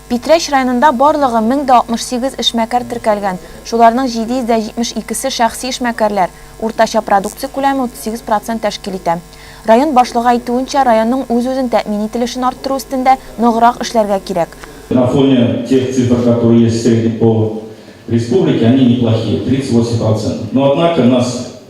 Питрәч районында барлыгы 1068 эшмәкәр теркәлгән, шуларның 772 се шәхси эшмәкәрләр, уртача продукция күләме 38 процент тәшкил итә. Район башлыгы әйтүенчә, районның үз-үзен тәэмин ителешен арттыру өстендә ныграк эшләргә кирәк. На фоне тех цифр, которые есть в среднем по республике, они неплохие, 38 процентов. Но однако нас